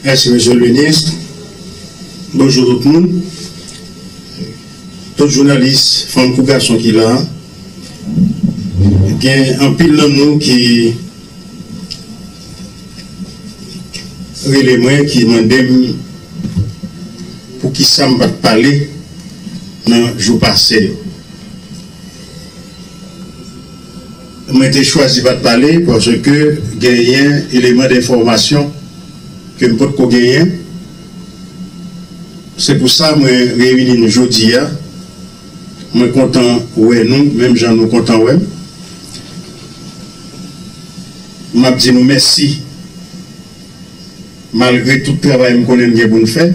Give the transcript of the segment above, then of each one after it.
Mèsi Mesye le Minis. Bonjou tout moun. Tout jounalis fanm kou gason ki la a. Gen anpil nan nou ki rele mwen ki mande m pou ki sa m pa t pale nan jou pase yo. Mwen te chwazi pat pale paske genyen eleman denfòmasyon ke m potko genyen. Se pou sa mwen reyini nou jodi a. Mwen kontan wè nou menm jan nou kontan wè m. M ap di nou mèsi. Malgre tout travay m konnen n gen pou n fè,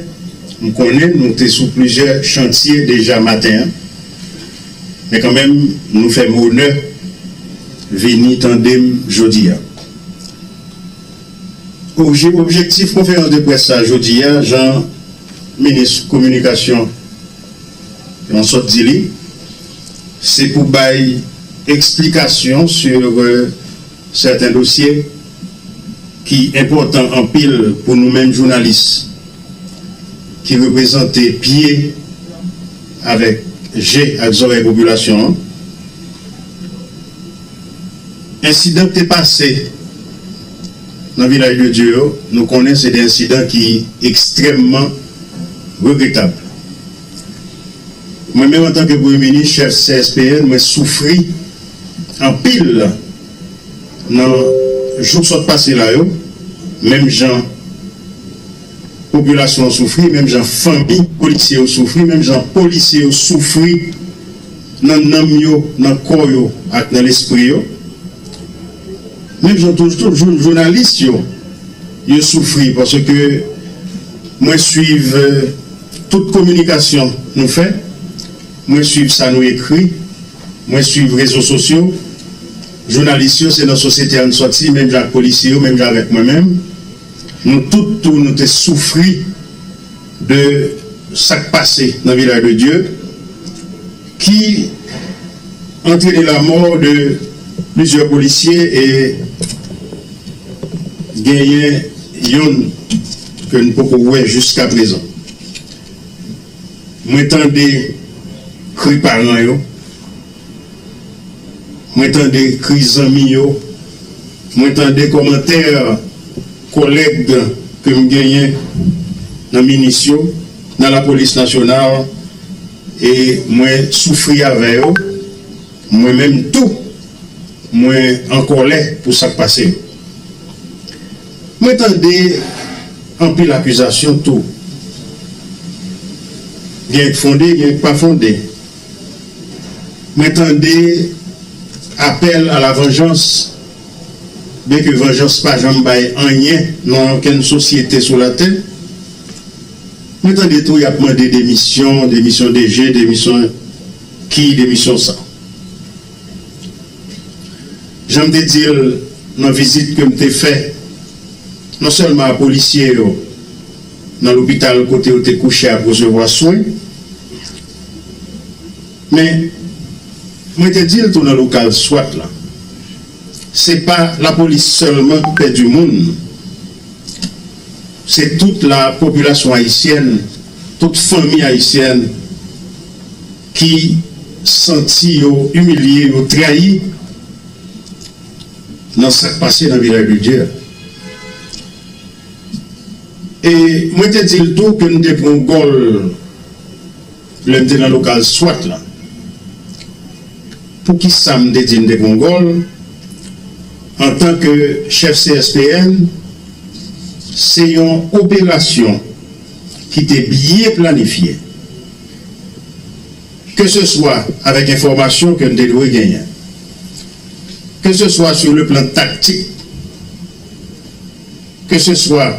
m konnen nou te sou plizyè chantye deja maten an, men kanmenm nou fè m onè vini tande m jodi a. Obje, objektif konferans de près sa jodi a, jan minis kominikasyon lan sot di li, se pou bay eksplikasyon sur sèten dosye, ki enpòtan anpil pou nou menm jounalis ki reprezante pye avèk je ak zòrèy popilasyon an. Ensidan k te pase nan Vilaj de Dye yo, nou konnen se de ensidan ki ekstrèmman regretab. Mwen menm antanke Premye Minis, chèf CSPN, mwen soufri anpil. Nan jou k sot pase la yo, menm jan popilasyon an soufri, menm jan fanmi polisye yo soufri, menm jan polisye yo soufri nan nanm yo, nan kò yo ak nan lespri yo, menm jan tou jounalis yo, yo soufri paske mwen swiv tout kominikasyon nou fè, mwen swiv sa nou ekri. Mwen swiv rezo sosyo, jounalis yo se nan sosyete a n sòti menm jan ak polisye yo, menm jan avèk mwen menm, nou tout tou nou te soufri de sa k pase nan Vilaj de Dye ki antrene lamò de plizyè polisye e genyen yonn ke n poko wè jiskaprezan. Mwen tande kri paran yo, mwen tande kri zanmi yo, mwen tande kòmantè kòlèg ke m genyen nan minis yo, nan lapolis nasyonal e mwen soufri avè yo, mwen menm tou mwen an kòlè pou sa k pase yo. Mwen tande anpil akizasyon tou. Gen k fonde, gen k pa fonde. Mwen tande apèl a la vanjans, byen ke vanjans pa janm bay anyen nan okenn sosyete sou latè. Mwen tande tou y ap mande demisyon, demisyon DG, demisyon ki, demisyon sa. Jan m te di l nan vizit ke m te fè, non sèlman a polisye yo nan lopital kote yo te kouche ap resevwa swen, men mwen te di l tou nan lokal swat la, se pa lapolis sèlman ki pèdi moun, se tout la popilasyon ayisyèn, tout fanmi ayisyèn. ki santi yo imilye, yo trayi nan sa k pase nan Vilaj Bildye a. E mwen te di l tou ke m te pran gòl lè m te nan lokal swat la. Poukisa m te di m te pran gòl antan ke chèf CSPN? Se yon operasyon ki te byen planifye. ke se swa avèk enfòmasyon ke n te dwe genyen, ke se swa sou le plan taktik, ke se swa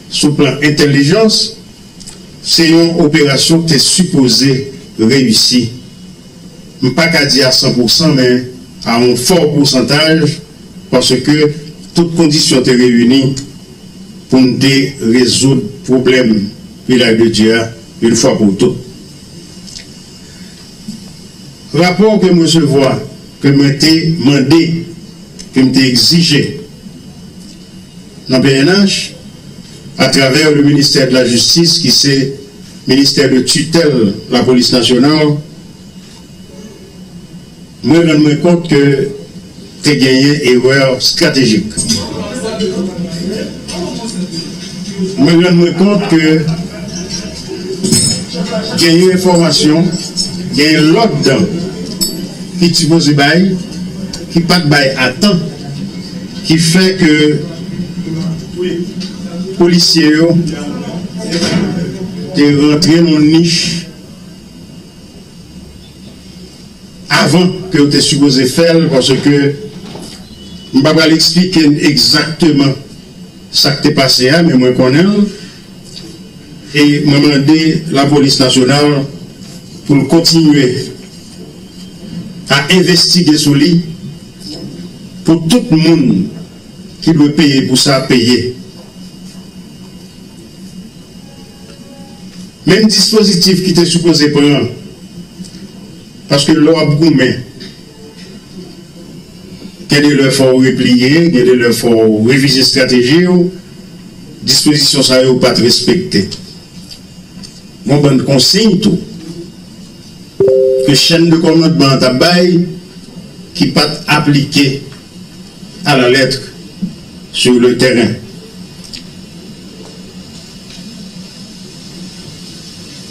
sou plan entèlijans, se yon operasyon ki te sipoze reyisi, m pa ka di a san pou san men a yon fò pousantaj, paske tout kondisyon te reyini pou n te rezoud pwoblèm. Mirak de Dye a yon fwa pou tout. Rapò ke m resevwa ke mwen te mande, ke m te egzije nan pnh a travè le ministère de la justice ki se ministè de tutèl lapolis nasyonal, Mwen rann mwen kont ke te genyen erè stratejik. Mwen rann mwen kont ke genyen enfòmasyon, genyen lòd ki sipoze bay, ki pa t bay a tan, ki fè ke polisye yo te rantre nan yon nich. avan ke yo te sipoze fè l paske m pa pral eksplike n egzakteman sa k te pase a men mwen konnen l e mwen mande lapolis nasyonal pou l kontinye a envestige sou li pou tout moun ki dwe peye pou sa peye. Menm dispozitif ki te sipoze pran an. Paske lè w ap goumen, gen de lè fò w repliye, gen de lè fò w revize estrateji w, dispozisyon sa yo pa t respekte. Gon bann konsiyn tou ke chèn de kòmandman an t ap bay ki pa t aplike. A la lettre, sur le terrain.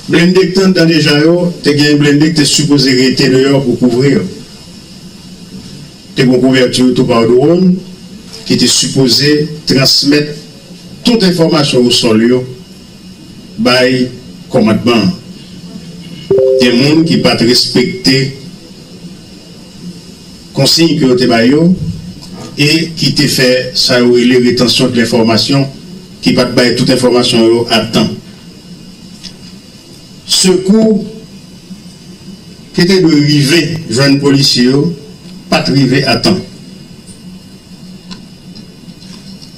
Blende k t anndan deja yo, te gen blende k te sipoze rete deyò pou kouvri yo. Te gon couverture tou par drone ki te sipoze transmèt tout enfòmasyon au sol yo bay kòmandman an. Gen moun ki pat respekte. konsiy ke yo te ba yo e ki te fè sa yo rele retansyon dlenfòmasyon ki pat bay tout enfòmasyon yo a tan. Sekou ki te dwe rive jwenn polisye yo pat rive a tan.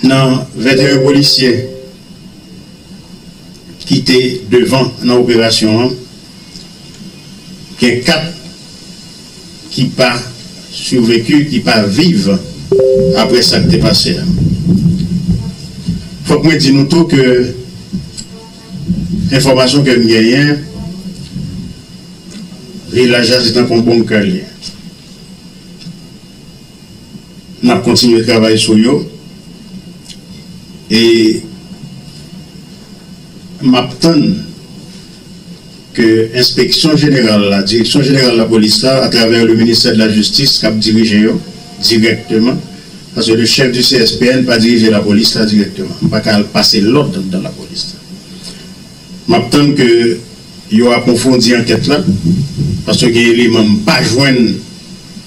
Nan 21 polisyè ki te devan nan operasyon an, gen 4. ki pa survecu, ki pa viv apre sa k te pase a. Fòk mwen di nou tou ke enfòmasyon ke n genyen, vilaj la se tankou yon bonm ke l ye. N ap kontinye travay sou yo e m ap tann. ke Enspeksyon Jeneral la, Direksyon Jeneral Lapolis la, atravè le Ministè de la Justice kap dirije yo dirèkteman, paske le Chef du CSPN pa dirije Lapolis la dirèkteman. M pa ka al pase lòd anndan Lapolis la. Map tann ke yo apwofondi ankèt la, paske gen eleman m pa jwenn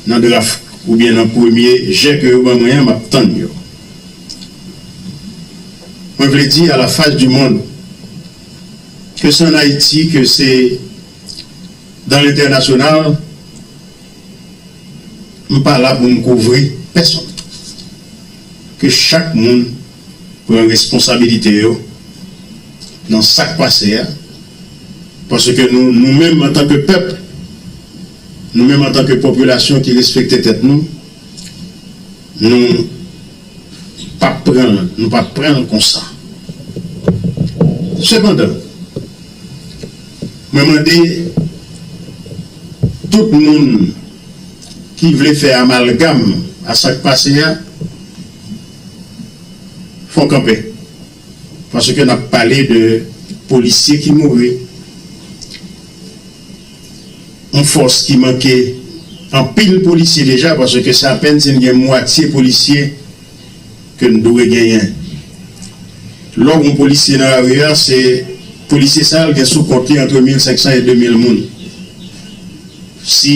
nan draf oubyen nan premye jè ke yo ban mwen an, map tann yo. Mwen vle di a la face du monde, Ke se an Ayiti, ke se dan lentènasyonal, m pa la pou m kouvri pèsonn. Ke chak moun pran responsabilite yo nan sa k pase a, paske nou, nou menm antanke pèp, nou menm antanke popilasyon ki respekte tèt nou, Nou pap pran l, nou pap pran l konsa. Sepandan, mwen mande tout moun ki vle fè amalgam a sa k pase a, fon kanpe. Paske nap pale de polisye ki mouri, yon fòs ki manke anpil polisye deja paske se apèn si n gen mwatye polisye ke n dwe genyen. Lè w gen yon polisye nan lari a, se polisye sa l gen sou kont li antre 1500 e 2000 moun. Si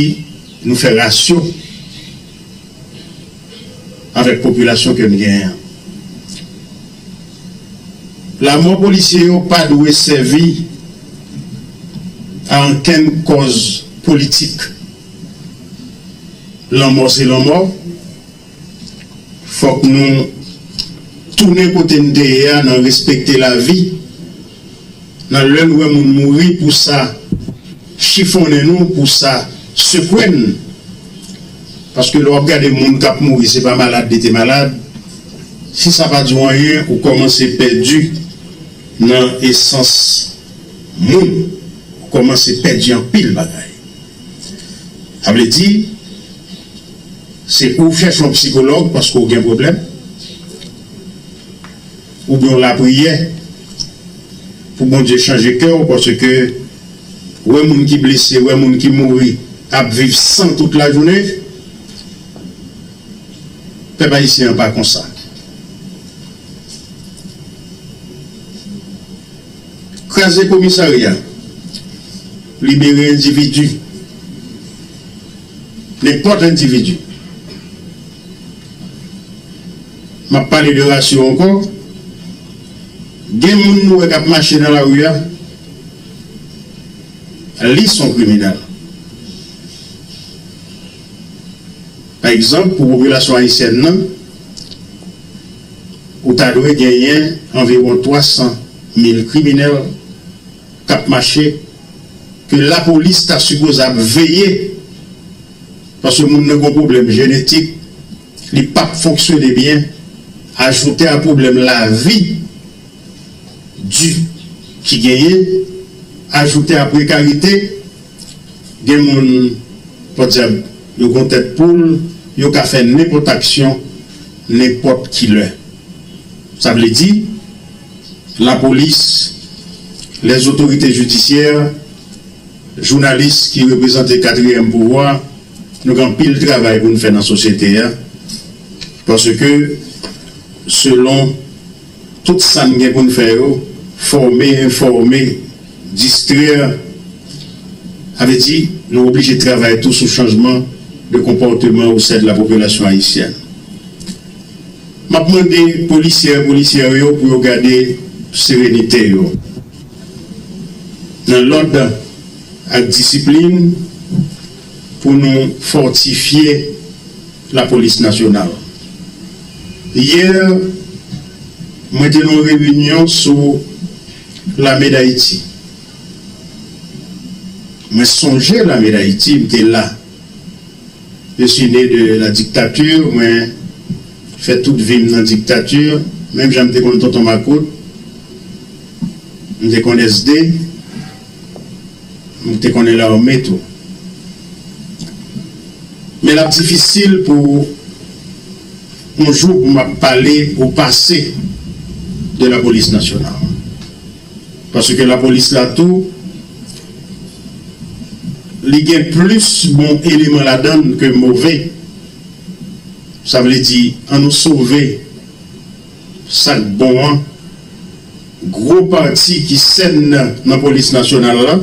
nou fè rasyo. avèk popilasyon ke m genyen an. Lamò polisye yo pa dwe sèvi a ankenn kòz politik. Lanmò se lanmò. Fòk nou tounen kote n te ye a nan respekte lavi. Nan lè n wè moun mouri pou sa chifonnen nou pou sa sekwe n paske lè w ap gade moun k ap mouri se pa malad li te malad si sa pa di w anyen ou kòmanse pèdi nan esans moun ou kòmanse pèdi anpil bagay sa vle di se pou w chèche yon psikològ paske w gen pwoblèm. Ou gen yon lapriyè pou Bondye chanje kè w paske wè moun ki blese, wè moun ki mouri ap viv san tout lajounen. Pèp ayisyen an pa konsa. Kraze komisarya, libere endividi, nenpòt endividi. M ap pale de rasyo ankò. Gen moun nou wè k ap mache nan lari a, li s on kriminèl. Pa egzanp, pou popilasyon ayisyèn nan, ou ta dwe genyen anviwon 300 mil kriminèl k ap mache, ke lapolis ta sipoze ap veye, paske moun nan gen yon pwoblèm jenetik. Li pap fonksyone byen, ajoute a pwoblèm lavi di ki genyen, ajoute a prekarite, gen moun, pòdyab, yo gon tèt poul, yo ka fè nenpòt aksyon, nenpòt ki lè. Sa vle di, lapolis, lèzotorite jidisyè, jounalis ki reprezante katriyèm pouvwa, Nou gen anpil travay pou n fè nan sosyete a paske selon tout sa n gen pou n fè yo fòme, enfòme, distrè sa vle di nou oblije travay tou sou chanjman de konpòteman osè de la popilasyon ayisyèn M ap mande polisyè, polisyè yo pou yo gade serenite yo nan lòd ak disiplin. Pou nou fòtifye lapolis nasyonal. Yè, mwen te nan yon reyinyon sou Lame Dayiti. Mwen sonje Lame Dayiti, m te la. Je suis né de la dictature, mwen fè tout vi m nan diktati. Menm jan m te konn tonton makout, m te konn SD. M te konnen lame tou. Men l ap difisil pou yon jou pou m ap pale ou pase de lapolis nasyonal. Paske lapolis la tou, li gen plis bon eleman ladan l ke move. Sa vle di an nou sove. Sak bon an, gwo pati ki sèn nan polis nasyonal la,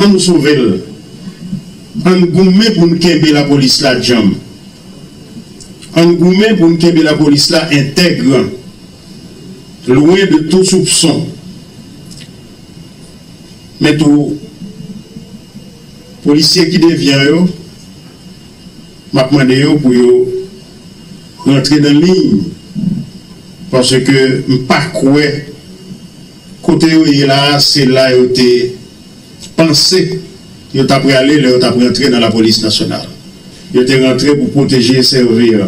an nou sove l, an n goumen pou n kenbe lapolis la djanm, an n goumen pou n kenbe lapolis la entègre, lwen de tou soupson, men tou polisye ki devyan yo, m ap mande yo pou yo. Rantre nan liy paske m pa kwè kote yo ye la se la yo te panse yo ta prale lè yo tap rantre nan lapolis nasyonal yo te rantre pou pwoteje sèvir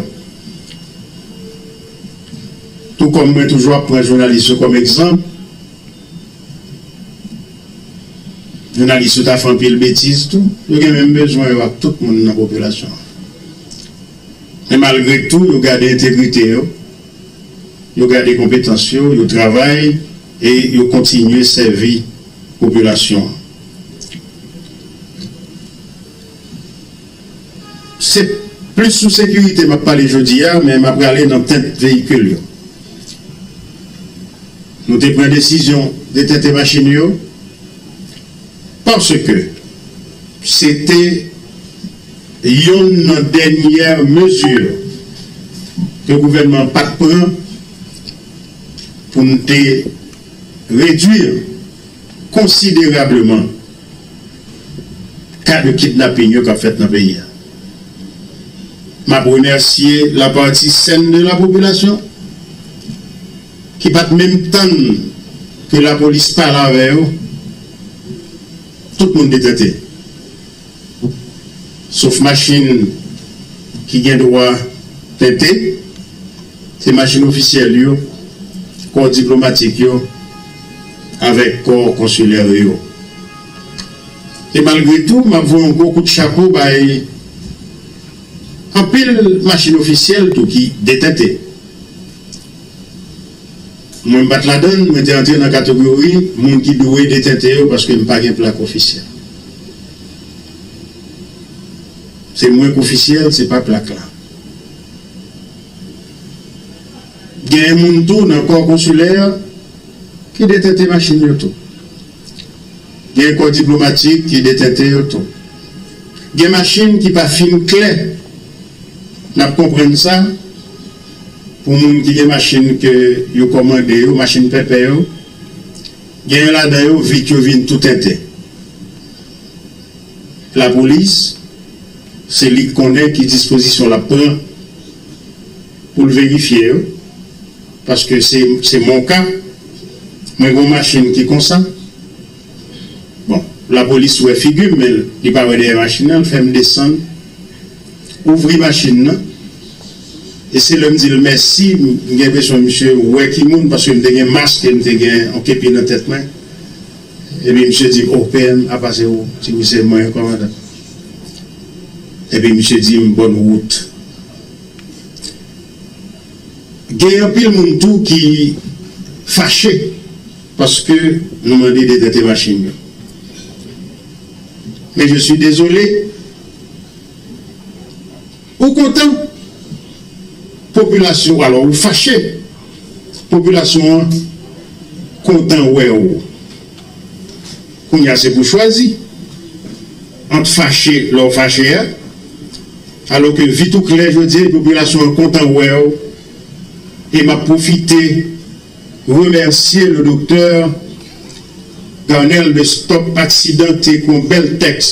tou kòm mwen toujou ap pran jounalis yo kòm egzanp jounalis yo ta fè anpil betiz tou yo gen menm bezwen yo ak tout moun nan popilasyon an. Men malgre tou, yo gade entegrite yo, yo gade konpetans yo, yo travay e yo kontinye sèvi popilasyon an. Se plis sou sekirite m ap pale jodi a, men m ap rale nan tente veyikil yo. Nou te pran desizyon detente machin yo paske se te. Youn nan dènyè mezi ke gouvènman an pa t pran pou n te redui konsiderableman ka de kidnaping yo k ap fèt nan peyi a. M ap remèsye la pati sèn de la popilasyon ki pa t menm tann ke lapolis pale avè yo, tout moun te tente. Sof machin ki gen dwa tente, se machin ofisyèl yo, kò diplomatik yo avèk kò konsilè yo. E malgre tou, m ap voye yon gwo kout chapo bay anpil machin ofisyèl tou ki detente. Mwen m pat ladan l, mwen te antre nan katogori moun ki dwe detente yo paske m pa gen plak ofisyèl. Se mwen k ofisyèl, se pa plak la. Genyen moun tou nan kò konsilè ki detente machin yo tou. Gen kò diplomatik ki detente yo tou. Gen machin ki pa fin klè, n ap konprann sa. Pou moun ki gen machin ke yo kòmande yo, machin pèpè yo, genyen ladan yo vit yo vin tou tenten. Lapolis, se li k konnen ki dispozisyon l ap pran pou l verifye yo, paske se mon ka, mwen gon machin ki konsa, bon, lapolis wè figi m men li pa wè dèyè machin nan, l fè m desann, ouvri machin nan. E se lèm dil mèsi m gen enpresyon misye wè ki moun paske m te gen mask e m te gen yon kepi nan tèt mwen epi misye dim oh PM apa se ou m di wi se mwen kòmandan epi misye dim bòn wout gen anpil moun tou ki fache paske nou mande detente machin yo men je suis désolé. Ou kontan? Popilasyon alò ou fache? Popilasyon an kontan wè ou. Kounye a se pou chwazi ant fache lè ou fache a alò ke vit ou klè jodi a e popilasyon an kontan wè ou e m ap pwofite remèsye le doktè Garnel de Stop Accident te kon bèl tèks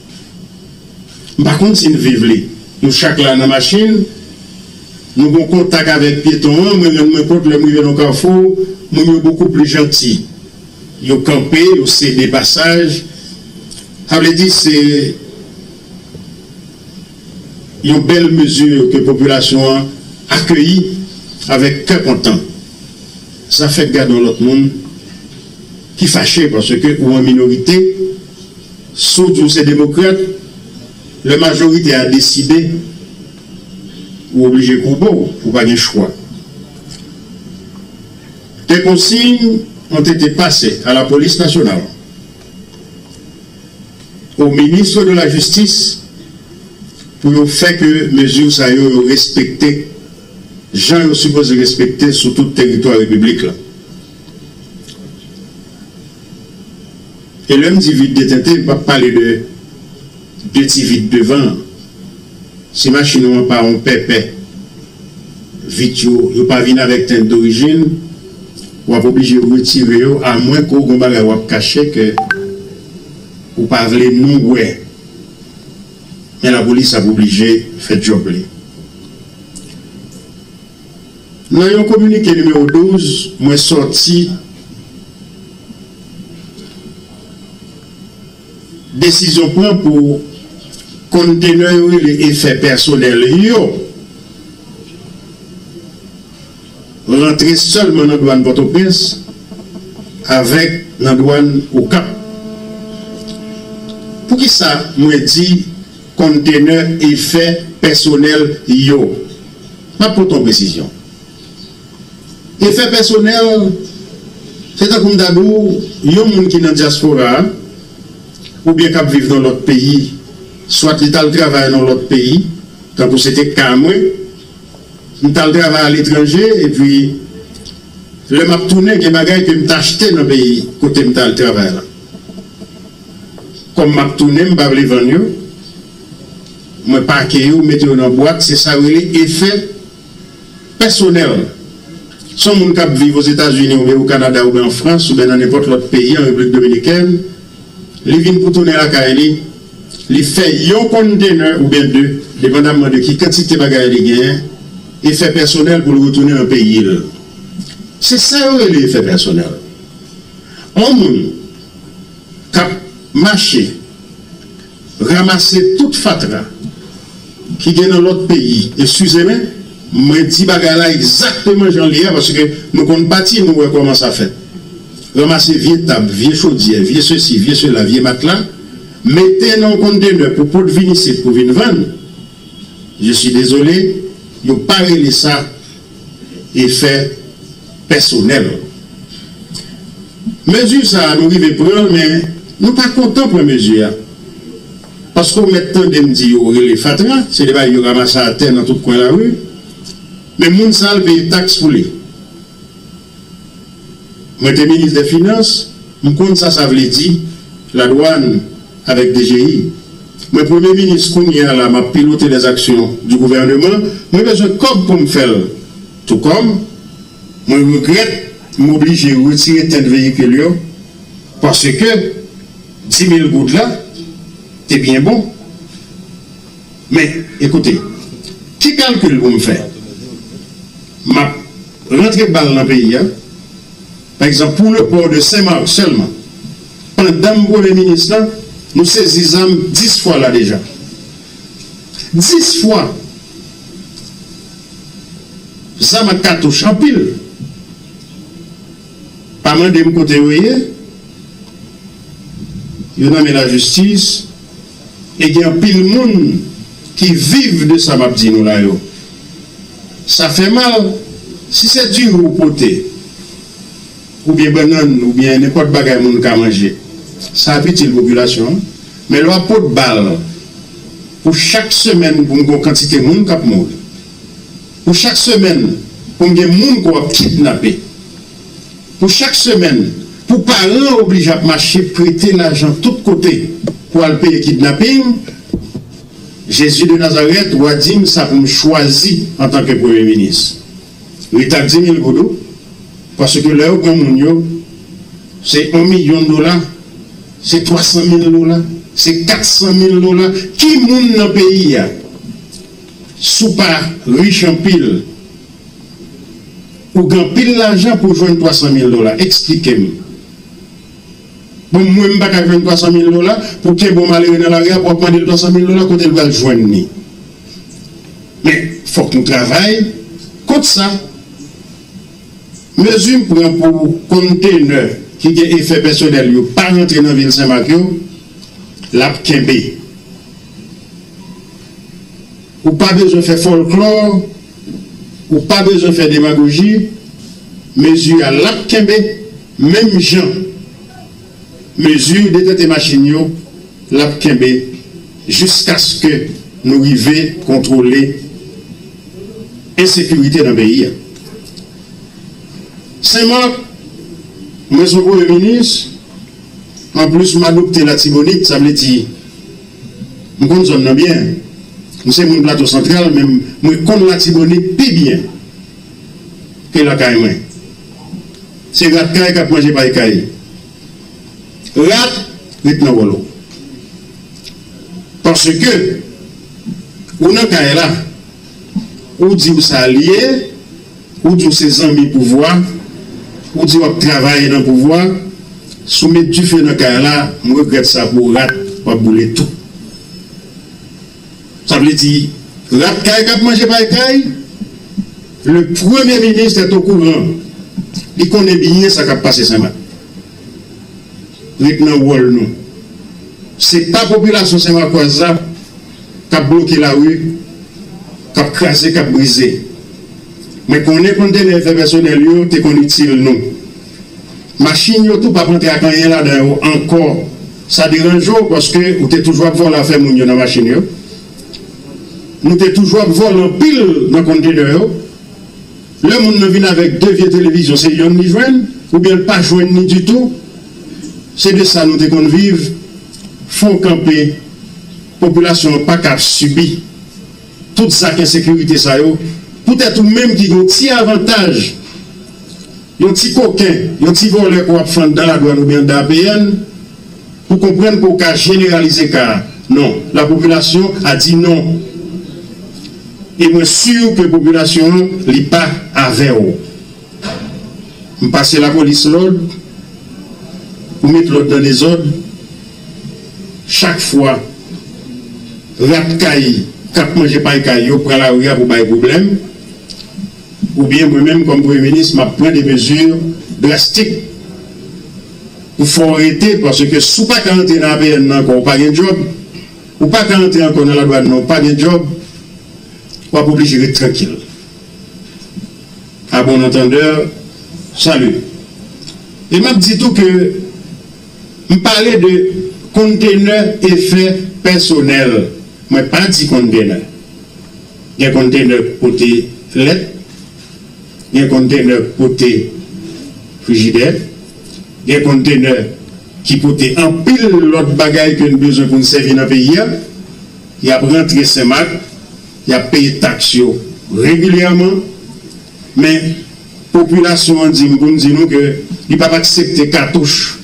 M pa konn si l viv li. Nou chak la nan machin. Nou gon kontak avèk pyeton an. Mwen rann mwen kont lè m rive nan kafou, moun yo bokou pli janti. Yo kanpe, yo sede pasaj. Sa vle di se yon bèl mezi ke popilasyon an akeyi avèk kè kontan. Sa fèk gade yon lòt moun ki fache paske ou an minorite. Si w di w se demokrat, lè majorite a deside, ou oblije koube w, ou pa gen chwa. Des consignes ont été passées à la police nationale, au ministre de la justice pou yo fè ke mezi sa yo yo respekte jan yo sipoze respekte sou tout teritwa repiblik la. E lè m di vide de tenten, m p ap pale de de ti vit devan an. Si machin ou an pa yon pèpè, vit yo, yo pa vin avèk tenten dorijin, w ap oblije retire yo amwen ke w gen yon bagay w ap kache ke ou pa vle moun wè. Men lapolis ap oblije fè djòb li. Nan yon kominike nimewo 12 mwen sòti, desizyon pran pou konntenè yo rele efè pèsonèl yo rantre sèlman nan dwàn Pòtoprens avèk nan dwàn Okap. Poukisa mwen di Kontenè efè pèsonèl yo Map pote yon presizyon Efè pèsonèl Se tankou m ta di w yon moun ki nan dyaspora a oubyen kap viv nan lòt peyi swat li tal travay nan lòt peyi tankou se te ka mwen m tal travay aletranje epi lè map tounen gen bagay ke m t achte nan peyi kote m t al travay la. Kòm map tounen m pa vle vann yo mwen pake yo mete yo nan bwat se sa yo rele efè pèsonèl son moun kap viv ozetazini oubyen o kanada oubyen an frans oubyen nan nenpòt lòt peyi an repiblik dominikèn li vin pou tounen lakay li li fè yon konntenè oubyen 2 depandamman de ki kantite bagay li genyen efè pèsonèl poul retounen nan peyil se sa yo rele efè pèsonèl on moun. kap mache ramase tout fatra ki gen nan lòt peyi eskizemen mwen di bagay la egzakteman jan li ye paske nou konn pati nou wè kòman sa fèt ramase vye tab vye chodyè vye sesi vye sela vye matla mete nan yon kontenè pou pot vin isit pou vin vann je si dezole yo pa rele sa. efè pèsonèl. Mezi sa a nou rive pran l men nou pa kontan pran mezi a paske w mèt tande m di yo rele fatra se de bagay yo ramase atè nan tout kwen lari men moun sa l peye taks pou li. Mwen te minis dè finans, m konn sa sa vle di, ladwann avèk dgi. Mwen premye minis kounye a la map pilote les actions du gouvernement, mwen bezwen kòb pou m fè l tou kòm mwen regrèt m oblije retire tint veyikil yo paske 10 mil goud la te byen bon. Men, ekoute, ki kalkil pou m fè? M ap rantre bal nan peyi a, pa egzanp, pou le pò de Sen Marc sèlman, pandan m Premye Minis la, nou sezi zam 10 fwa la deja. 10 fwa! Zam ak katouch anpil. Pa mande m kote yo ye. Yo nan men lajistis. E gen anpil moun ki viv de sa map di nou la yo. Sa fè mal, si se diri ou pote, oubyen bannann, oubyen nenpòt bagay moun ka manje, sa ap itil popilasyon an. Men lè wap pot bal pou chak semèn pou m gon kantite moun kap mouri, pou chak semèn pou m gen moun ke wap kidnape, Pou chak semèn, pou paran an oblije ap mache prete lajan tout kote pou al peye kidnaping, Jezi de Nazarèt, w a di m sa pou m chwazi antanke Premye Minis, Rita di mil goudou, paske lè yo pran moun yo, se on milyon dola, se twa san mil dola, se kat san mil dola, ki moun nan peyi a, si w pa rich anpil, Ou gen anpil lajan pou jwenn 300 mil dola eksplike m Bon mwen m pa ka jwenn 300 mil dola pou kenbe yon malere nan lari a wap mande l 300 mil dola kote l pral jwenn li Men fòk nou travay kont sa Mezi m pran pou konntenè ki gen efè pèsonèl yo pa rantre nan vil Senmak yo lap kenbe Ou pa bezwen fè fòlklò. Ou pa bezwen fè demagoji, mezi a lap kenbe menm jan mezi detente machin yo lap kenbe jiskaske nou rive kontwole ensekirite nan peyi a. Sen Mak, mwen son premye minis, anplis m adopte latibonit, sa vle di. M konn zòn nan byen. M se moun Plato Santral men mwen konn Latibonit pi byen ke lakay mwen. Se rat kay k ap manje pay kay. Rat ret nan wòl ou. Paske ou nan kay la, ou di w sa l ye. Ou di w se zanmi pouvwa, ou di wap travay nan pouvwa, si w met dife nan kay la, m regrèt sa pou w rat wap boule tou. Sa vle di rat kay kap manje pay kay, le premye minis est au courant, li konnen byen sa kap pase Senmak. Ret nan wòl nou. Se pa popilasyon senmakwaz la. K ap bloke lari, k ap kraze, k ap brize. Mwen konnen konntenè efè pèsonèl yo te konn itil nou. Machin yo tou pa p antre ak anyen ladan yo ankò. Sa deranje w paske ou te toujou ap vòlò afè moun yo nan machin yo. Nou te toujou ap vòlò anpil nan konntenè yo. Lè moun nan vin avèk 2 vye televizyon se yonn li jwenn oubyen l pa jwenn ni ditou, se de sa nou te konn viv, fò w kanpe, popilasyon an paka ap sibi tout zak ensekirite sa yo poutèt ou menm ki gen yon ti avantaj, yon ti koken, yon ti vòlè ke w ap fann dan ladwàn oubyen andan APN. Ou konprann ke w ka jeneralize ka a? Non. Lapopilasyon a di non. E mwen sur ke popilasyon an li pa avè w. M pase lapolis lòd, ou met lòd nan dezòd, chak fwa rat kay k ap manje pay kay yo pran lari a pou bay pwoblèm, oubyen mwen menm kòm Premye Minis m ap pran de mezi drastik. Ou fò rete paske si w pa ka antre nan APN nan ankò ou pa gen djòb, ou pa ka antre ankò nan ladwàn nan ou pa gen djòb, w ap oblije ret trankil. A bon antandeur, salut. E m ap di tou ke m pale de konntenè efè pèsonèl, mwen pa di konntenè. Gen konntenè k pote lèt, gen konntenè k pote frijidè. Gen konntenè ki pote anpil lòt bagay ke n bezwen pou n sèvi nan peyi a. Y ap rantre Senmak, y ap peye taks yo regilyèman. Men, popilasyon an di m pou m di nou ke li p ap aksepte katouch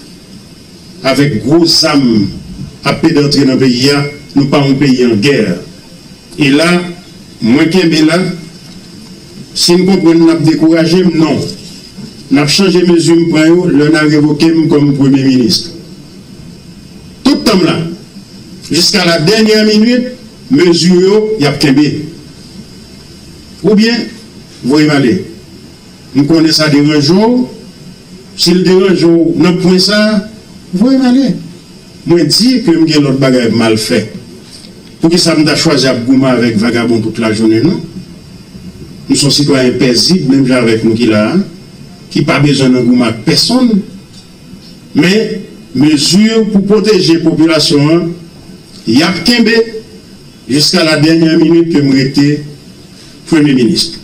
avèk gwo zam ap pede antre nan peyi a. Nou pa yon peyi an gè. E la, mwen kenbe la. Si m konprann n ap dekouraje m, non. N ap chanje mezi m pran yo lè nan revoke m kòm premye minis. Tout tan m la, jiska la dènyè minit, mezi w yo y ap kenbe. Oubyen, voye m ale. M konnen sa deranje w. Si l deranje w nan pwen sa a, voye m ale. Mwen di ke m gen lòt bagay m al fè. Poukisa m ta chwazi ap goumen avèk vagabon tout lajounen non? M s on sitwayen pèzib menm jan avèk nou ki la a, ki pa bezwen nan goumen ak pèsonn. Men, mezi pou pwoteje popilasyon an, y ap kenbe jiska la dènyè minit ke m rete Premye Minis.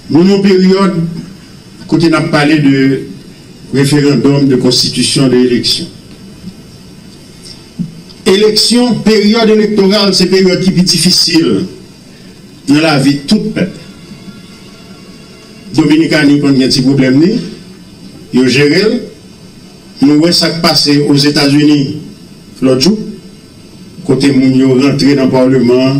Nou nan peryòd kote n ap pale de referandòm, de konstitisyon, de eleksyon. Eleksyon, peryòd elektoral se peryòd ki pi difisil nan lavi tout pèp. Dominikani konn gen ti pwoblèm li, yo jere l. Nou wè sa k pase Ozetazini lòt jou, kote moun yo rantre nan paleman an.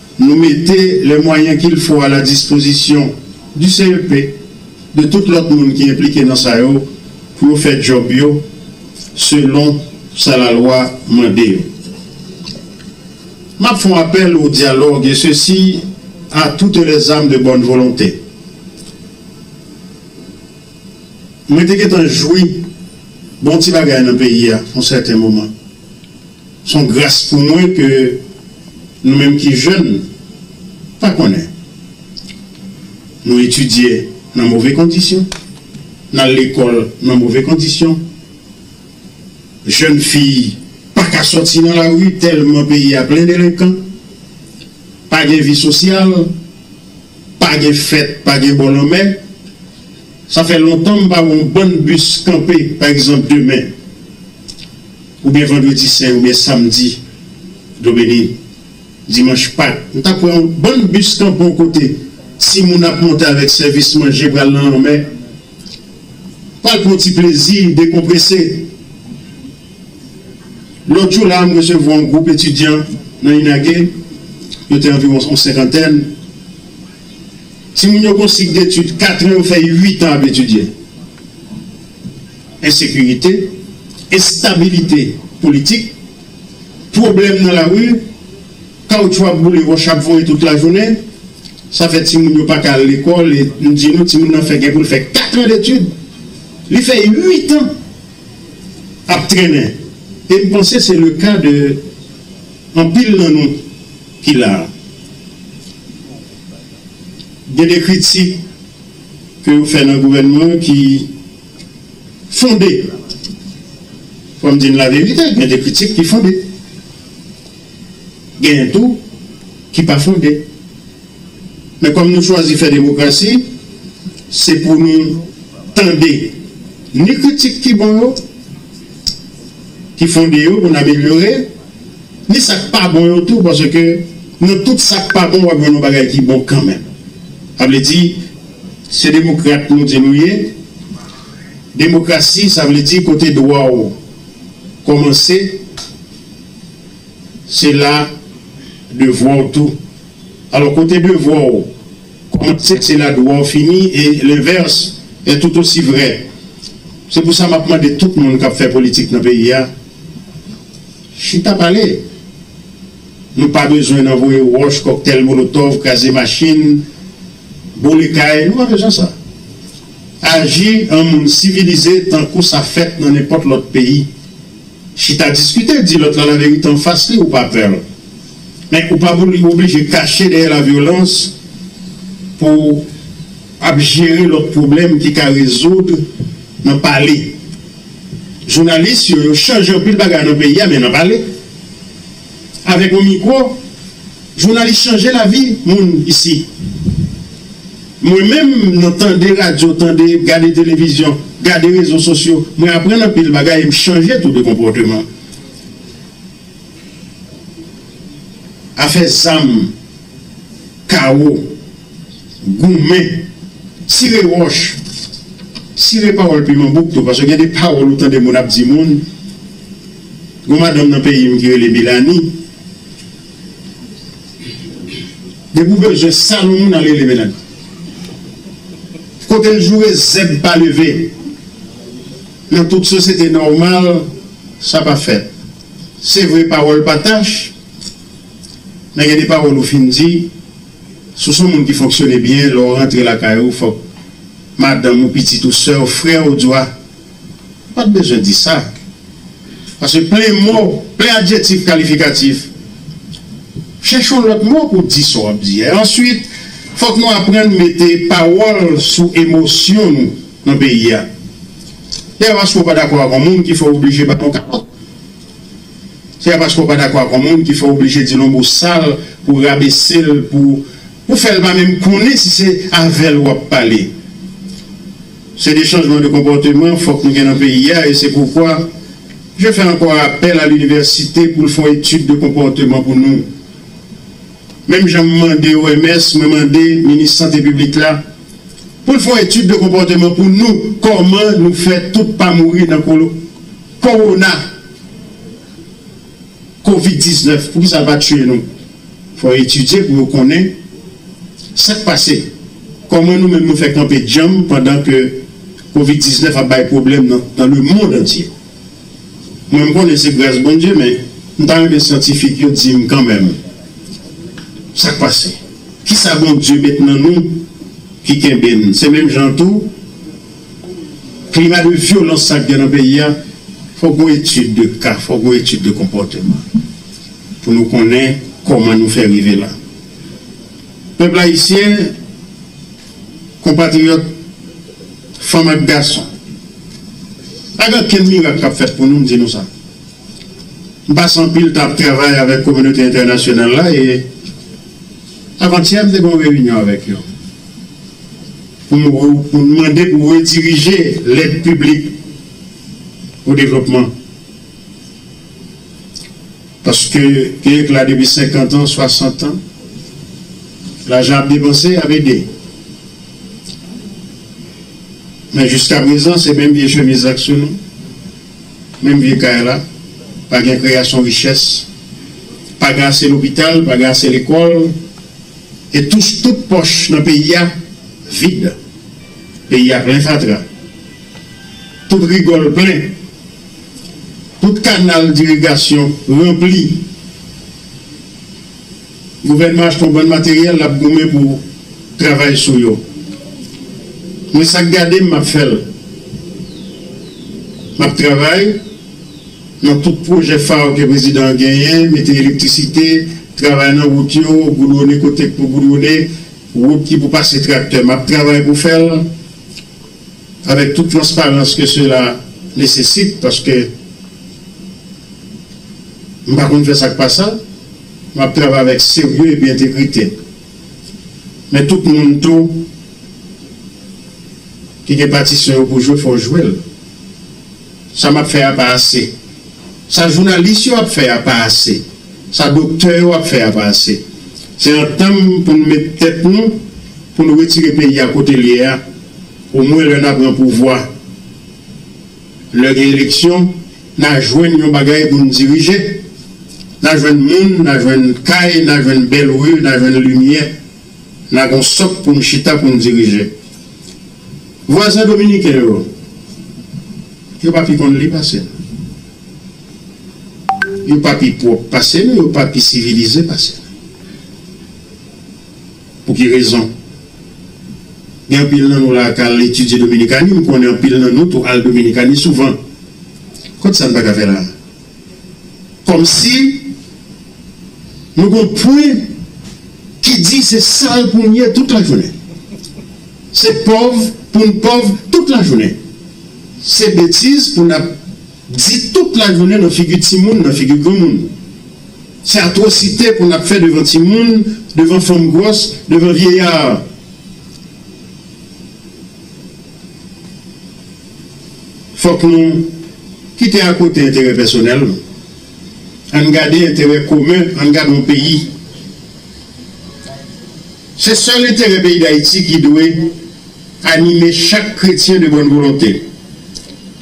Nou mete lè mwayen kil fo a la dispozisyon di CEP, de tout lòt moun ki enplike nan sa yo pou yo fè djòb yo selon sa la lwa mande yo. Map fon apèl o dyalòg e sesi a toute les ames de bonne volonté. Mwen te gentan jwi bon ti bagay nan peyi a yon sèten moman. Son gras pou mwen ke nou menm ki jèn pa konnen. Nou etidye nan move kondisyon, n al lekòl nan move kondisyon. Jèn fi pa ka sòti nan lari tèlman peyi a plen delenkan. Pa gen vi sosyal, pa gen fèt, pa gen bò lanmè. Sa fè lontan m pa wè yon bann bis kanpe pa egzanp demen. Oubyen vandredi sen oubyen samdi domeni, dimanch pak. M ta pran yon bann bis tanpon kote ti moun ap monte avèk sèvis manje pral nan lanmè, pral pran yon ti plezi, dekonprese. Lòt jou la a m resevwa yon gwoup etidyan nan Inage, yo te anviwon yon senkantèn. Ti moun yo gen yon sik detid katran, yo fè uitan ap etidye. ensekirite, enstabilite politik, pwoblèm nan lari, kawoutchou ap boule, wòch ap voye tout lajounen, sa fè timoun yo pa ka al lekòl e m di nou timoun nan fè gen pou l fè katran detid, li fè uitan ap trennen e m panse se le ka de anpil nan nou ki la a. Gen de kritik ke yo fè nan gouvènman ki. fonde. Fò m di n laverite, gen de kritik ki fonde. Genyen tou ki pa fonde. Men kòm nou chwazi fè demokrasi, se pou nou tande ni kritik ki bon yo, ki fonde yo pou n amelyore, ni sa k pa bon yo tou paske nan tout sa k pa bon w ap jwenn yon bagay ki bon kanmenm. Sa vle di. Se demokrat nou di nou ye? Demokrasi sa vle di kote dwa w kòmanse se la devwa w tou. Alò kote devwa w kòmanse se la dwa w fini e lenvès è tout osi vrè. Se pou sa m ap mande tout moun k ap fè politik nan peyi a, chita pale. Nou pa bezwen nan voye wòch, kòktèl molotòv, kraze machin. Boule kay, nou pa bezwen sa. Aji an moun sivilize tankou sa fèt nan nenpòt lòt peyi. Chita diskite, di lòt la laverite anfas li ou pa pè l. Men ou pa pou oblije kache dèyè lavyolans pou w ap jere lòt pwoblèm ki ka rezoud nan pale. Jounalis yo, yo chanje anpil bagay nan peyi a men nan pale. Avèk yon mikwo. Jounalis chanje lavi moun isi. Mwen menm nan tande radyo tande gade televizyon gade rezo sosyo mwen aprann anpil bagay em chanje tou de konpòteman afè zam kawo goumen sire wòch sire pawòl piman bouk tou paske gen de pawòl ou tande moun ap di moun gon madanm nan peyim ki rele Melanie Depi w bezwen sal yon moun al rele menaj ou. Kote l joure zèb pa leve. Nan tout sosyete nòmal sa pa fèt. Se vre pawòl pa tach men gen de pawòl ou fin di sou son moun ki fonksyone byen lè w rantre lakay ou fòk madanm ou, pitit ou, sè w, frè w, di w a Ou pa t bezwen di sa. Paske plen mo, plen adjektif kalifikatif. Chèche yon lòt mo pou di sa w ap di a. Answit, fòk nou aprann mete pawòl sou emosyon nou nan peyi a. Dayè paske w pa dakò ak yon moun ki fè w oblije bat yon kalòt. Se pa paske w pa dakò ak yon moun ki fè w oblije di l yon mo sal pou rabese l pou. Ou fèl pa menm konnen si se avèl wap pale. Se de chanjman de konpòteman fòk nou gen nan peyi a e se poukwa je fè ankò apèl a linivèsite poul fon etid de konpòteman pou nou. Menm janm mande OMS mwen mande minis sante piblik la poul fon etid de konpòteman pou nou kòman nou fè tout pa mouri nan kowona. Covid 19 poukisa l pa tiye nou? Fò yo etidye pou yo konnen sa k pase, kòman nou menm nou fè kanpe djanm pandan ke Covid 19 ap bay pwoblèm nan lemond antye. Mwen m konnen se gras Bondye men m ta renmen syantifik yo di m kanmenm sa k pase. Kisa Bondye met nan nou ki kenbe n? Se menm jan tou. Klima de vyolans sa k gen nan peyi a, fòk gon etid de ka, fòk gon etid de konpòteman pou nou konnen kòman nou fè rive la. Pèp ayisyen, konpatriyòt, fanm ak gason, pa gen okenn mirak k ap fèt pou nou, m di nou sa. M pase anpil tan ap travay avèk kominote entènasyonal la e. Avantyè m te gen yon reyinyon avèk yo pou m pou n mande pou redirije lèd piblik pou devlopman paske peyi k la depi 50 an 60 an lajan ap depanse ap ede men jiskaprezan se menm vye chemiz la k sou nou. Menm vye kay la, pa gen kreyasyon richès, pa gen ase lopital, pa gen ase lekòl, e touche tout pòch nan peyi a vid. Peyi a plen fatra. Tout rigòl plen. Tout kanal dirigasyon ranpli. Gouvènman achte yon bann materyèl l ap goumen pou travay sou yo. Mwen sa k gade m m ap fè l. M ap travay nan tout pwojè fa yo ke prezidan an genyen, mete elektrisite, travay nan wout yo, goudwone kote k pou goudwone, wout ki pou pase traktè. M ap travay pou fè l avèk tout transparans ke sela nesesite paske m pa konn fè sa k pa sa. M ap travay avèk serye epi entegrite. Men tout moun tou ki gen patisyon yo pou jwe fò w jwe l. Sa m ap fè a pa ase. Sa jounalis yo ap fè a pa ase. Sa doktè yo ap fè a pa ase. Se antanm pou n met tèt nou pou n retire peyi a kote l ye a omwen lè n a pran pouvwa. Lè gen eleksyon, na jwenn yon bagay pou n dirije. Na jwenn moun, na jwenn kay, na jwenn bèl ri, na jwenn limyè. Na gon sòk pou n chita pou n dirije. Vwazen dominiken yo, yo pa pi konn li pase n. Yo pa pi pwòp pase n, yo pa pi sivilize pase n. Pou ki rezon? Gen anpil nan nou la a k al etidye Dominikani, m konnen anpil nan nou tou al Dominikani souvan. Kot sa n pa ka fè la a? Kòmsi nou gen yon pwen ki di se sal pou n ye tout lajounen, se pòv pou n pòv tout lajounen, se betiz pou n ap. Di tout lajounen nan figi timoun, nan figi granmoun. Se atwosite pou n ap fè devan timoun, devan fanm gwòs, devan vyeyar. Fòk nou kite akote enterè pèsonèl, an n gade enterè komen, an n gade yon peyi. Se sèl enterè peyi Dayiti ki dwe anime chak kretyen de bòn volonte.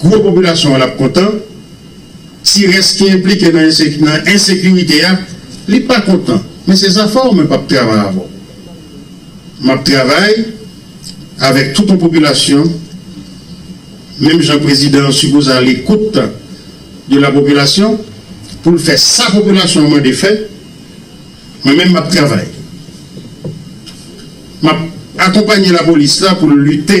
Gwo popilasyon an ap kontan, ti rès ki enplike nan ensekirite a li pa kontan. Men se zafè w mwen pap travay avè w. Map travay avèk tout on popilasyon menm jan prezidan an sipoze a lekout de la popilasyon pou l fè sa popilasyon an mande fè. Mwen menm map travay, map akonpanye lapolis la pou l lite.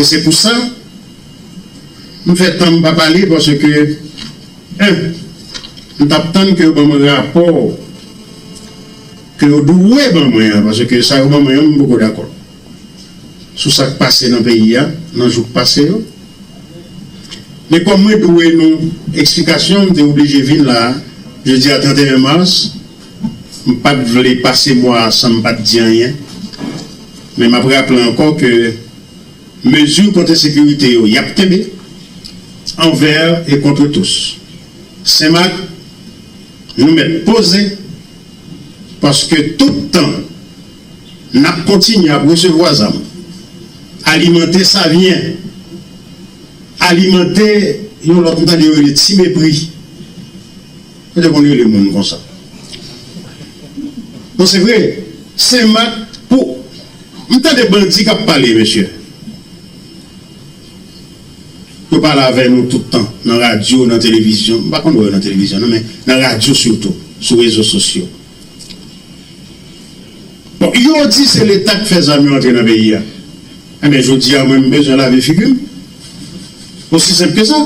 E se pou sa m fè tan m pa pale paske 1 m tap tann ke yo ban mwen rapò ke yo dwe ban mwen an paske sa yo ban mwen an m poko dakò sou sa k pase nan peyi a nan jou k pase yo men kòm mwen dwe nou eksplikasyon m te oblije vin la jodi a 31 mars m pat vle pase mwa a san m pat di anyen men m ap raple ankò ke. Mezi kote sekirite yo y ap kenbe anvèr e kontre tous. Senmak, nou mèt poze paske tout tan n ap kontinye ap resevwa zam, alimante savyen, alimante yon lòt m tande yo rele ti mepri, yo te konn rele moun konsa. Non se vre, Senmak pou. M tande bandi kap pale mesye. Yo pale avè nou tout tan nan radyo nan televizyon m pa konn wè yo nan televizyon nan men nan radyo sitou sou rezo sosyo bon yo di se leta k fè zam yo antre nan peyi a enben jodi a mwen m bezwen lave figi m osi senp ke sa.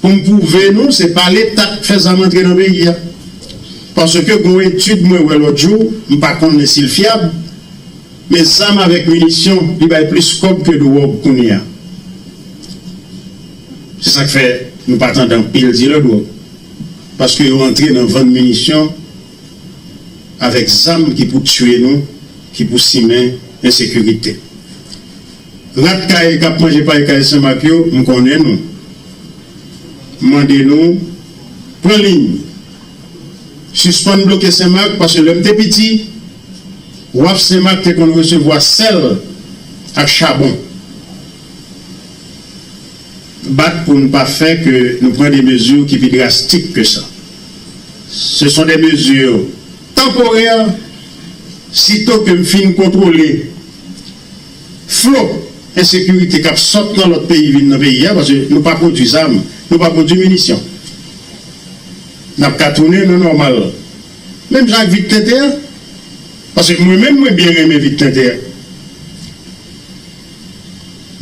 Pou m pwouve nou se pa leta k fè zam antre nan peyi a. Paske gon etid mwen wè lòt jou, m pa konnen si l fyab, men zam avèk minisyon li bay plis kòb ke dwòg kounye a. Se sa k fè nou pa tande anpil dilè dwòg. Paske yo antre nan vann minisyon avèk zam ki pou tiye nou, ki pou simen ensekirite. Rat kay kap manje pay kay senmak yo m konnen nou mande nou pran liy sispann bloke senmak paske lèm te piti waf senmak te konn resevwa sèl ak chabon bat poun pa fè ke nou pran de mezi ki pi drastik ke sa se son de mezi tanporè sito kem fin kontwole. Flo ensekirite kap sot nan lot peyi vin nan peyi a paske nou pa pwodwi zam nou pa pwodwi minisyon nap ka tounen nan nòmal menm jan ak vit tenten an paske mwen menm mwen byen renmen vit tenten an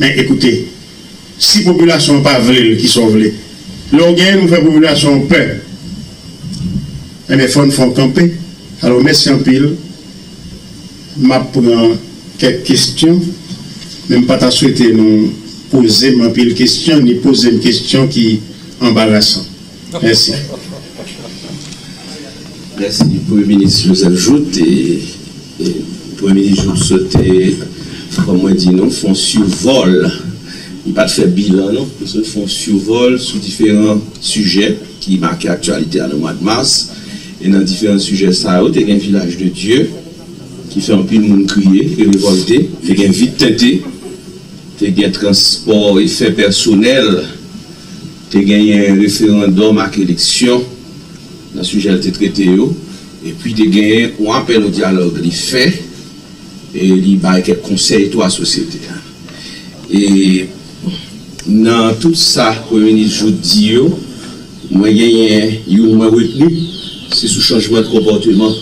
men ekoute si popilasyon an pa vlel kisa w vle lè w genyen nou fè popilasyon an pè enben fòn fon kanpe alò mèsi anpil. M ap pran kèk kesyon, men m pa ta swete nou poze m anpil kesyon ni poze m kesyon ki anbarasan. Mèsi. Mèsi Premye Minis Joseph Jouthe. Premye Minis Jouthe swete fò mwen di nou fon sivòl, m pa t fè bilan non, m swete fon sivòl sou diferan sijè ki make aktyalite a nan mwad mas e nan diferan sijè sa yo te gen Vilaj de Dye, ki fè anpil moun kriye e revòlte, te gen vit tente, te gen transpò e fè pèsonèl, te genyen referandòm ak eleksyon nan sijè l te trete yo, epi te genyen yon apèl o dyalòg li fè e li bay kèk konsèy tou a sosyete a. E nan tout sa premye minis Jouthe di yo, mwen genyen youn mwen retni, se sou chanjman de konpòteman.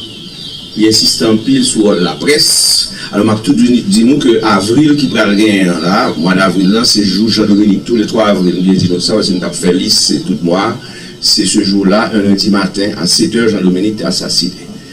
Li ensiste anpil sou wòl laprès. Alò m ap tou di nou ke avril ki pral genyen an la, mwa davril lan, se jou Jean Dominique, tou le 3 avril, m byen di nou sa paske m t ap fè lis tout mwa a, se se jou la, un lundi matin, a 7 è, Jean Dominique te asasine.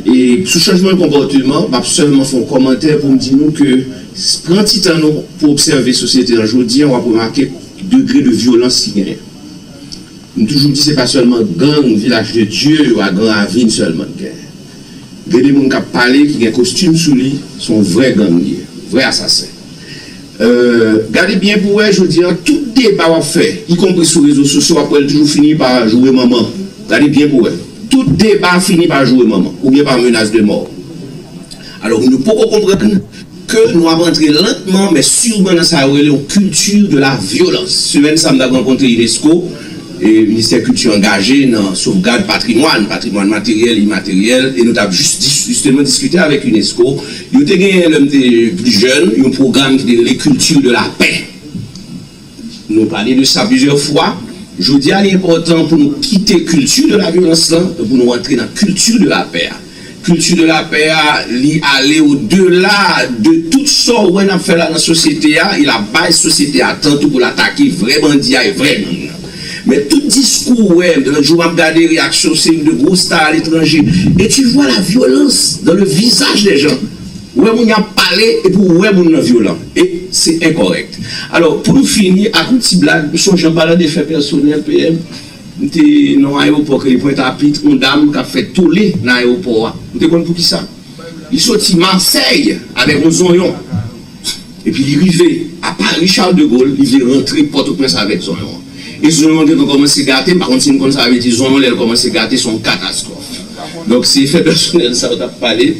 E sou chanjman konpòteman, m ap sèlman fè yon kòmantè pou m di nou ke pran ti tan nou pou obsève sosyete an jodi an w ap remake degre de vyolans ki genyen. M toujou di se pa sèlman gang Vilaj de Dye yo a Gran Ravin sèlman k genyen. Gen de moun k ap pale ki gen kostim sou li, se yon vrè gang li ye, vrè asasen. Gade byen pou wè jodi an tout deba wap fè y konpri sou rezo sosyo wap wèl toujou fini pa joure manman gade byen pou wè tout deba fini pa joure manman ou byen pa menas de mò alò moun yo poko konprann ke nou ap antre lantman men surman nan sa yo rele yon kilti de la vyolans semèn sa m tap rankontre unesco e ministè kilti angaje nan sovgad patrimwàn patrimwàn materyèl imateryèl e nou tap jisteman diskite avèk unesco Yo te genyen lè m te pli jèn yon pwogram ki te rele Culture de la paix. Nou pale de sa plizyè fwa. Jodi a li enpòtan pou nou kite culture de la violence lan e pou nou rantre nan culture de la paix a. Culture de la paix a li ale o dela de tout sa w wè n ap fè la nan sosyete a e l ap bay sosyete a tan tou pou l atake vrè bandi a e vrè gang nan. Men tout diskou ou wè lòt jou map gade reyaksyon seri de gwo star aletranje e tu vois la violans dans le visaj des gens ou wè moun yo ap pale epi ou wè moun nan vyolan e se enkòrèk alò pou nou fini ak yon ti blag m sonje an palan de fè pèsonèl PM m te nan yon ayewopò ki rele pwentapit yon dam kap fè tole nan ayewopò a ou te konn poukisa li soti masèy avèk yon zonyon. Epi li rive a Paris Charles de Gaulle, li vle rantre Pòtoprens avèk zonyon an. E zonyon an gentan kòmanse gate, m pa konn si nou konn sa vle di zonyon lè l kòmanse gate se yon katastwòf. Donk se fè pèsonèl sa yo t ap pale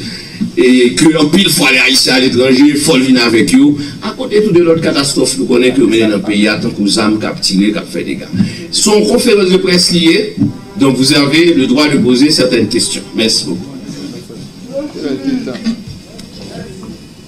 e ke anpil fwa lè Ayisyen ale etranje fò l vin avèk yo a kote tou de lòt katastwòf nou konnen ke yo mennen nan peyi a tankou zam k ap tire k ap fè dega. Se yon konferans de près li ye donk vous avez le droit de poser certaines questions. Mèsi bokou.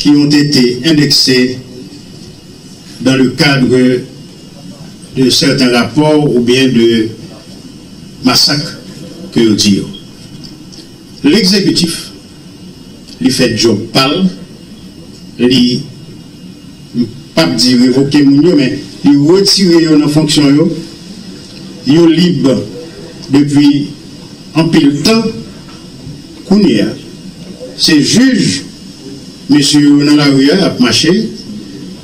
ki ont ete endekse dan le kadre de sèten rapò oubyen de masak ke yo di yo. Legzekitif, li fè djòb pa l, li, m p ap di revoke moun yo men li retire yo nan fonksyon yo, yo lib depi anpil tan. Kounye a, se jij mesye yo nan lari a ap mache,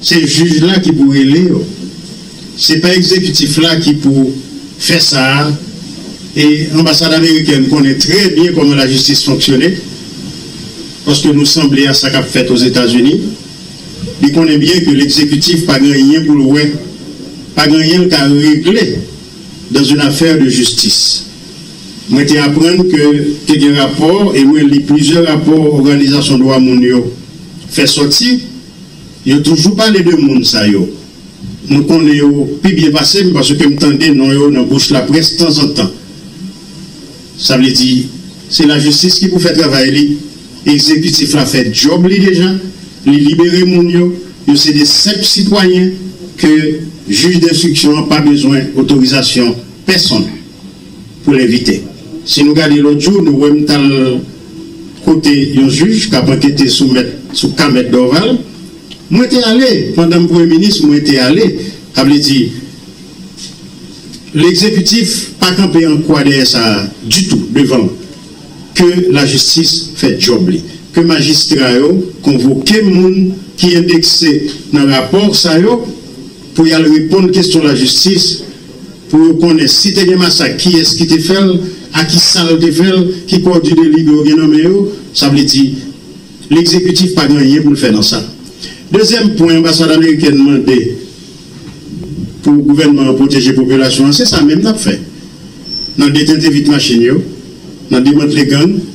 se jij la ki pou rele yo. Se pa egzekitif la ki pou fè sa a. E anbasad amerikèn konnen trè byen kòman lajistis fonksyone, paske nou sanble a sa k ap fèt Ozetazini. Li konnen byen ke legzekitif pa gen anyen pou l wè, pa gen anyen l ka regle dans une affaire de justice. Mwen te aprann ke te gen rapò, e mwen li plizyè rapò òganizasyon dwa moun yo fè sòti, yo toujou pale de moun sa yo. Nou konnen yo pi byen pase m paske m tande non yo nan bouch laprès tanzantan. Sa vle di, se lajistis ki pou fè travay li, egzekitif la fè djòb li deja, li libere moun yo, yo se de senp sitwayen ke jij denstriksyon an pa bezwen otorizasyon pèsonn. pou levite. Si nou gade lòt jou nou wèm tal kote yon jij kap ankete sou mèt sou ka mèt Dorval mwen te ale pandanm premye minis mwen te ale sa vle di legzekitif pa kanpe an kwa dèyè sa ditou devan ke lajistis fè djòb li ke majistra yo konvoke moun ki endekse nan rapò sa yo. pou y al reponn kesyon lajistis pou yo konnen si te gen masak kiyès ki te fè l, a ki sa l te fè l, ki kò di deli do yo gen nan men yo, sa vle di legzekitif pa gen anyen pou l fè nan sa. Dezyèm pwen anbasad amerikèn mande pou gouvènman an pwoteje popilasyon an se sa menm n ap fè nan detente vit machin yo, nan demantle gang.